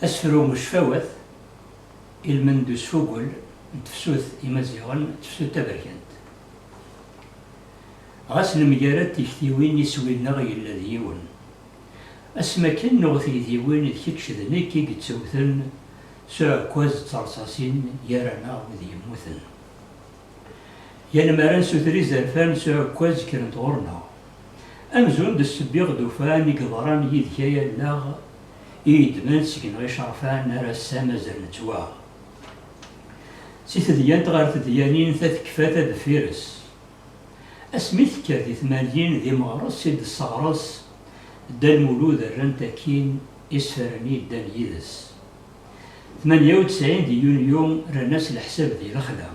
Asefru n ucfawat ilmend usfugel n tefsut imaziɣen d tefsut taberkant. Ɣas nemgarad tiktiwin iswi-nneɣ yella d yiwen. Asmi akken nuɣ tigdiwin d kečč d nekk i yettewten S uɛekkaz d terṣaṣin gar-aneɣ wid yemmuten. Yal mi ara nsuter izerfan s uɛekkaz kkren-d ɣur-neɣ. Amzun d ssebbiɣ d ufan i yeḍran yid-k ay allaɣ i yeddmen seg-neɣ icerfan ar ass-a mazal nettwaɣ. Si tedyant ɣer tedyanin ta tekfa ta deffir-s. Asmi tekka di tmanyin d imeɣres i d-tesseɣres Dda Lmulud rrant akkin, Isefaren i yeddan yid-s. Tmanya u tesɛin di yunyu rran-as leḥsab di lexla.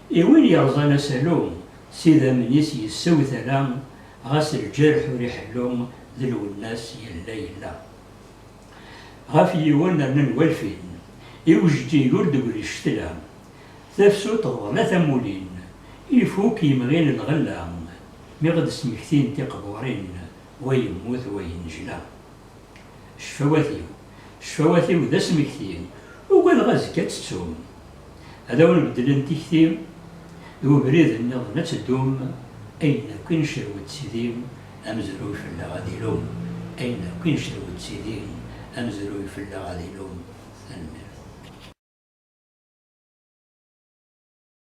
I win yerẓan asalu, s idammen-is yessew tala, ɣas lǧerḥ ur iḥellu, d Lwennas yella yella. Ɣef yiwen rnan walfin, i ujeǧǧig ur d-tegri ccetla. Tafsut teḍla tamulin, ifuk yemɣi n lɣella, mi ɣ-d-smektint tiqburin, wa yemmut wa yennejla. Cfawat-iw, cfawat-iw d asmekti, ugadeɣ azekka ad tettum. Ad awen-beddlen tikti, d webrid nniḍen ad teddum, ayen akk i ncerwet d tidi, amezruy fell-aɣ ad ilum, ayen akk i ncerwet d tidi, amezruy fell-aɣ ad ilum. Tanemmirt.